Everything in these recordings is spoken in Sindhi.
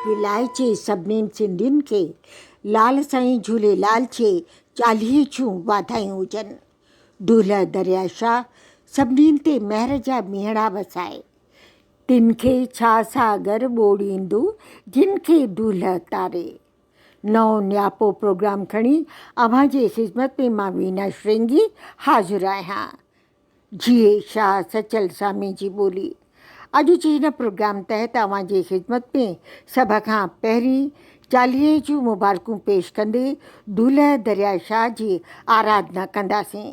ولايجي سڀنين سنڌين کي لال سائين جهوليلال جي چاليهي جون واڌايون هجن دولهه دريا شاهه سڀنين تي مهر جا ميهڙا وسائي تن کي ڇا ساگر ٻوڙيندو جن کي دولهه تاري. نئون نياپو پروگرام کڻي اوهان جي خدمت ۾ مان وينا شرنگي حاضر آهيان. جيئي شاهه سچل سامي جي ٻولي. اڄ جي هن پروگرام تحت اوهان جي خدمت ۾ سڀ کان پهرين چاليهي جون مبارڪون پيش ڪندي دولهه درياء شاهه جي آرادنا ڪنداسين.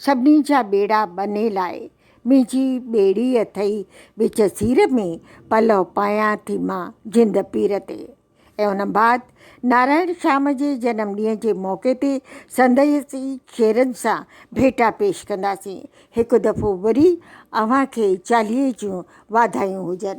سڀني جا ٻيڙا ٻنهي لاء، منهنجي ٻيڙي اٿئي وچ سير ۾، پلئو پايان ٿي مان جند پير تي. ۽ ان بعد نارائڻ شام جي جنم ڏينهن جي موقعي تي سندسي شعرن سان ڀيٽا پيش ڪنداسين. هڪ دفعو وري اوهان کي چاليهي جون واڌايون هجن.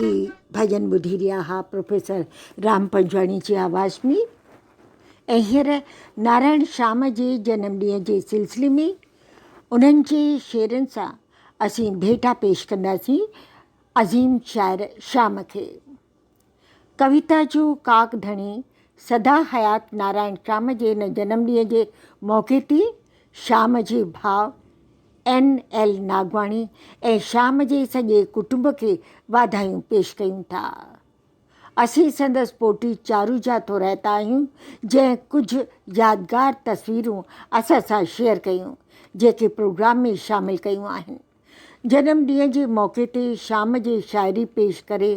هي ڀڄن ٻڌي رهيا ها پروفيسر رام پنجواڻي جي آواز ۾ ۽ هينئر نارائڻ شام جي جنم ڏينهن جي سلسلي ۾ انهن جي شعرن سان اسين ڀيٽا پيش ڪنداسين عظيم شاعر شام کي ڪويتا جو ڪاڪ ڌڻي سدا حيات نارائڻ شام جي هن جنم ڏينهن جي موقعي تي شام جي ڀاء اين ايل ناگواڻي ۽ شيام جي سڄي ڪٽنب کي واڌايون پيش ڪيون ٿا. اسين سندس پوٽي چارو جا ٿو رهتا آهيون جنهن ڪجهه يادگار تصويرون اسان سان شيئر ڪيون جيڪي پروگرام ۾ شامل ڪيون آهن. جنم ڏينهن جي موقعي تي شيام جي شاعري پيش ڪري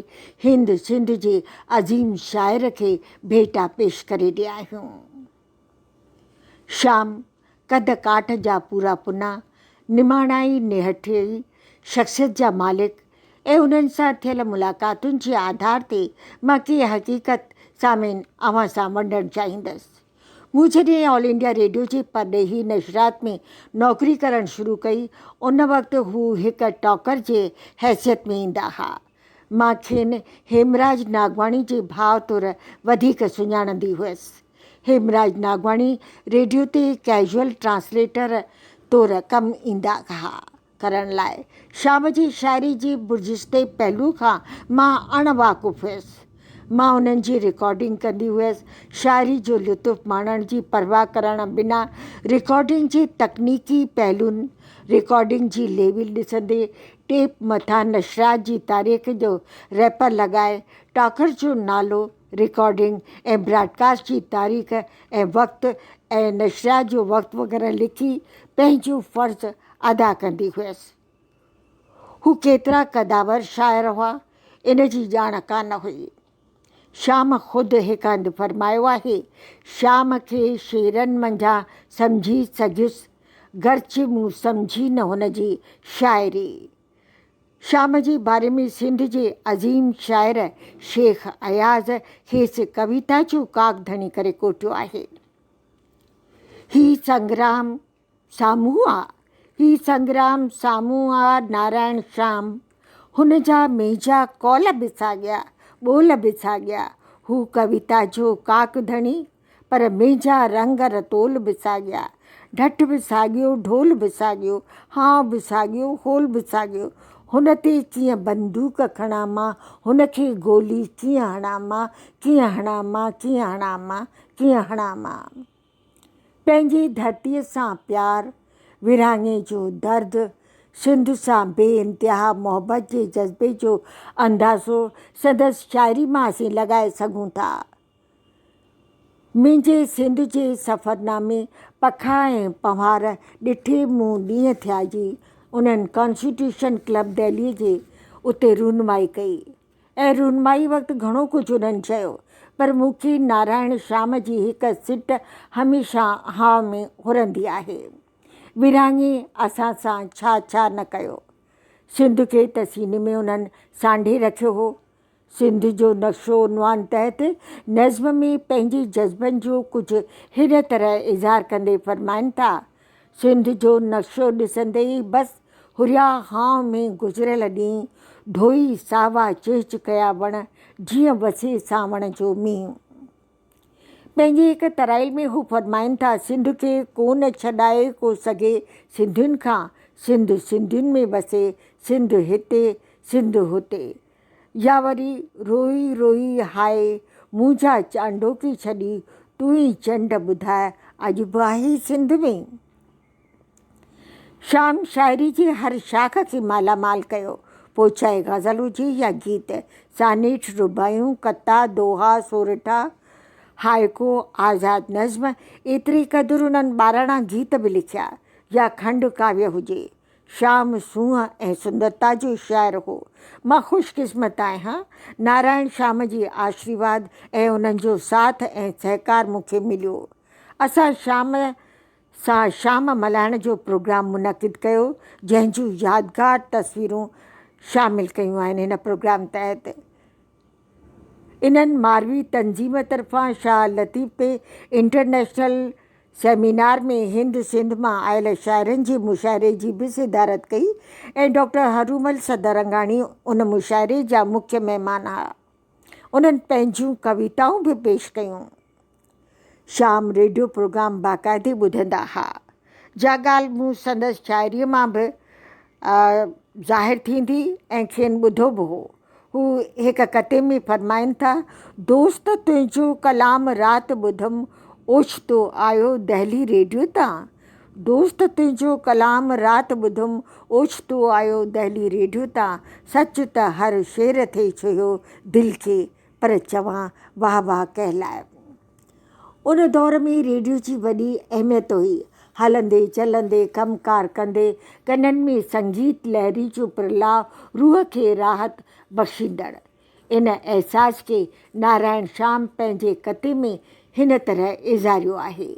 هند سنڌ جي عظيم شاعر کي ڀيٽا پيش ڪري رهيا آهيون. شام، قد ڪاٺ جا پورا پنا، نماڻائي نهٺيئي شخصيت جا مالڪ ۽ انهن سان ٿيل ملاقاتن جي آڌار تي مان ڪي حقيقت سامعين اوهان سان ونڊڻ چاهيندس. مون جڏهن آل انڊيا ريڊيو جي پرڏيهي نشرات ۾ نوڪري ڪرڻ شروع ڪئي ان وقت هو هڪ ٽاڪر جي حيثيت ۾ ايندا ها ۽ مان کين هيمراج ناگواڻي جي ڀاء طور وڌيڪ سڃاڻندي هئس. هيمراج ناگواڻي ريڊيو تي ڪيزوئل ٽرانسليٽر طور ڪم ايندا ها. ڪرڻ لاء شام جي شاعري جي برجستي پهلو کان مان اڻ واقف هئس. مان انهن جي رڪارڊنگ ڪندي هئس. شاعري جو لطف ماڻڻ جي پرواهه ڪرڻ بنا رڪارڊنگ جي تڪنيڪي پهلون، رڪارڊنگ جي ليول ڏسندي، ٽيپ مٿان نشرات جي تاريخ جو ريپر لڳائي، ٽاڪر جو نالو، رڪارڊنگ ۽ براڊڪاسٽ جي تاريخ ۽ وقت ۽ نشرات جو وقت وغيره لکي پنهنجو فرض ادا ڪندي هئس. هو ڪيترا قدآور شاعر هئا، ان جي ڄاڻ ڪانه هئي. شيام خود هڪ هنڌ فرمايو آهي، شيام کي شعرن منجهان سمجهي سگهيس، گرچه مون سمجهي نه هن جي شاعري. شيام جي باري ۾ سنڌ جي عظيم شاعر شيخ اياز کيس ڪويتا جو ڪاڪڌڻي ڪري ڪوٺيو آهي. هي سنگرام سامهون آ، هي سنگرام سامهون آ نارائڻ شام، هن جا ميجا قول به ساڳيا، ٻول به ساڳيا، هو ڪويتا جو ڪاڪ ڌڻي، پر ميجا رنگ رتول به ساڳيا، ڍٺ به ساڳيو، ڍول به ساڳيو، هانء به ساڳيو، هول به ساڳيو، هن تي ڪيئن بندوق کڻان مان، هن کي گولي ڪيئن هڻان مان، ڪيئن هڻان مان، ڪيئن هڻان مان، ڪيئن هڻان مان. پنهنجي ڌرتيء سان پيار، ورهاڱي جو درد، سنڌ سان بي انتها محبت جي جذبي جو اندازو سندس شاعري مان اسين لڳائي سگهون ٿا. منهنجي سنڌ جي سفرنامي پکا ۽ پنهوار ڏٺي مون ڏينهن ٿيا جي انهن ڪانسٽيٽيوشن ڪلب دهليء جي اتي رهنمائي ڪئي. ۽ رونمائي وقت گهڻو ڪجهه انهن چيو، پر مون کي نارائڻ شيام جي هڪ سٽ هميشه هاء ۾ هرندي آهي، ورهاڱي اسان سان ڇا ڇا نه ڪيو. سنڌ کي ته سيني ۾ انهن سانڍي رکيو هو. سنڌ جو نقشو عنوان تحت نظم ۾ پنهنجي جذبن جو ڪجهه هن طرح اظهار ڪندي فرمائن ٿا، سنڌ جو نقشو ڏسندي ئي بس هريا هانء ۾ گذريل ڏينهن ڍوئي ساوا چهچ ڪيا وڻ جيئن وسي سانوڻ جو مينهن. پنهنجي هڪ ترائيل ۾ هو فرمائن ٿا، سنڌ کي ڪون ڇڏائي ڪو سگهي سنڌين کان، سنڌ سنڌين ۾ وسي، سنڌ هتي، سنڌ هتي. يا وري روئي روئي هاء منهنجا چانڊوڪي ڇڏي تون ئي چنڊ ٻڌاء اڄ به آهي سنڌ ۾ شام شاعري جي هر شاخ کي مالا مال ڪيو پوء چاهي غزل هجي يا گيت سانيٺ رباعيون قطعا دوها سورٺا هائيڪو آزاد نظم ايتري قدر انهن ٻاراڻا گيت به لکيا يا کنڊ ڪاويه هجي شام سونهن ۽ سندرتا جو شاعر هو. مان خوش قسمت آهيان. نارائڻ شام جي آشريواد ۽ انهن جو ساٿ ۽ سهڪار مون کي مليو. اسان شام سان شام ملهائڻ جو پروگرام منعقد ڪيو، جنهن جون يادگار تصويرون شامل ڪيون آهن هن پروگرام تحت. انهن ماروي تنظيم طرفان شاهه لطيف تي انٽرنيشنل سيمينار ۾ هند سنڌ مان آيل شاعرن جي مشاعري جي به صدارت ڪئي ۽ ڊاڪٽر هرومل سدرنگاڻي ان مشاعري جا مکيه مهمان ها. انهن پنهنجيون ڪويتائون به پيش ڪيون. شام ريڊيو پروگرام باقاعدي ٻڌندا ها، جا ڳالهه مون سندس شاعريء مان به ظاهر ٿيندي ۽ کين ٻڌو به هو. هو هڪ قطعي ۾ فرمائن ٿا، دوست تنهنجو ڪلام رات ٻڌم اوچتو آيو دهلي ريڊيو تان دوست تنهنجو ڪلام رات ٻڌم اوچتو آيو دهلي ريڊيو تان سچ ته هر شعر ٿئي ڇهيو دل کي پر چوان واهه واهه ڪنهن لاء؟ ان دور ۾ ريڊيو جي وڏي اهميت هئي. هلندي چلندي، ڪم ڪار ڪندي، ڪنن ۾ سنگيت لهري جو پرلاء روح کي راحت بخشيندڙ. ان احساس کي نارائڻ شام پنهنجي قطعي ۾ هن طرح اظهاريو آهي.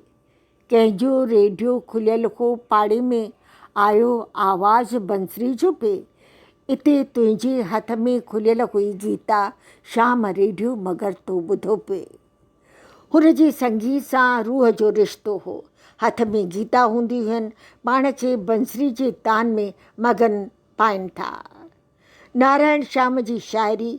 ڪنهن جو ريڊيو کليل هو پاڙي ۾ آيو آواز بنسري جو پئي اتي تنهنجي هٿ ۾ کليل هئي گيتا شام ريڊيو مگر تو ٻڌو پئي هن جي سنگيت سان روح جو رشتو هو هٿ ۾ گيتا هوندي هن پاڻ کي بنسري جي تان ۾ مگن پائين ٿا. نارائڻ شام جي شاعري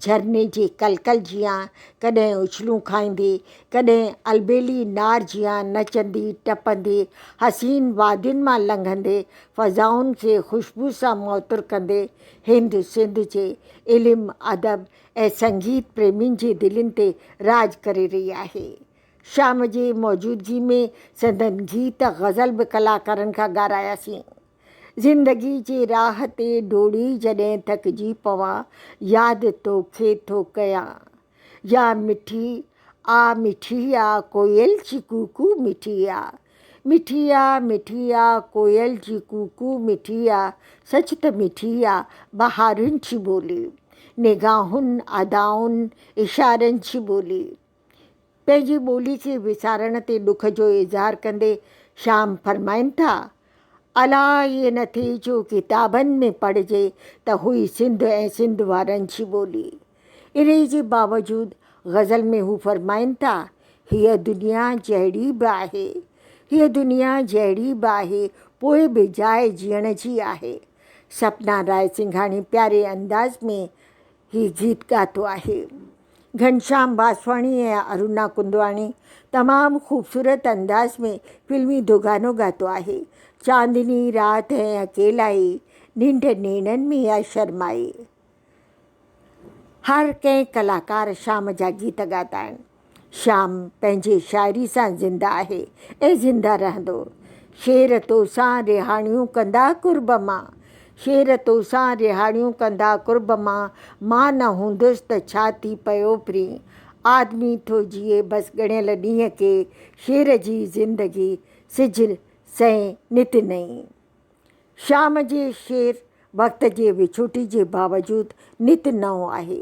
جهرني جي ڪل ڪل جيان ڪڏهن اڇلون کائيندي، ڪڏهن البيلي نار جيان نچندي ٽپندي، حسين وادين مان لنگهندي، فضائن کي خوشبو سان معطر ڪندي، هند سنڌ جي علم، ادب ۽ سنگيت پريمين جي دلين تي راڄ ڪري رهي آهي. شام جي موجودگي ۾ سندن گيت غزل به ڪلاڪارن کان ڳاراياسين. زندگي جي راھ تي ڊوڙي جڏھن ٿڪجي پوان ياد توکي ٿو ڪيان يا مٺي آ مٺي آ ڪوئل جي ڪوڪو مٺي آ مٺي آ مٺي آ ڪوئل جي ڪوڪو مٺي آ سچ ته مٺي آ بهارن جي ٻولي نگاهن ادائن اشارن جي ٻولي. پنهنجي ٻولي کي وسارڻ تي ڏک جو اظهار ڪندي شيام فرمائن ٿا، الا هيء نه ٿي جو ڪتابن ۾ پڙهجي ته هئي سنڌ ۽ سنڌ وارن جي ٻولي. انهيء جي باوجود غزل ۾ هو فرمائن ٿا، هيء دنيا جهڙي به آهي، هيء دنيا جهڙي به آهي، پوء به جاء جيئڻ جي آهي. سپنا راء سنگهاڻي پياري انداز ۾ هي گيت ڳاتو آهي گهنشام باسواڻي ۽ ارونا ڪندواڻي تمام خوبصورت انداز ۾ فلمي دوگانو ڳاتو آهي چاندني رات هي اڪيلائي ننڊ نيڻن ۾ آ شرمائي هر ڪنهن ڪلاڪار شام جا گيت ڳاتا آهن شام پنهنجي شاعري سان زنده آهي ۽ زنده رهندو. شعر توسان رهاڻيون ڪندا قرب مان شعر توسان رهاڻيون ڪندا قرب مان مان نه هوندس ته ڇا ٿي پيو پرين آدمي ٿو جيئي بس ڳڻيل ڏينهن ڪي شعر جي زندگي سج سئين نت نئين شام جي شعر وقت جي وڇوٽي جي باوجود نت نئون آهي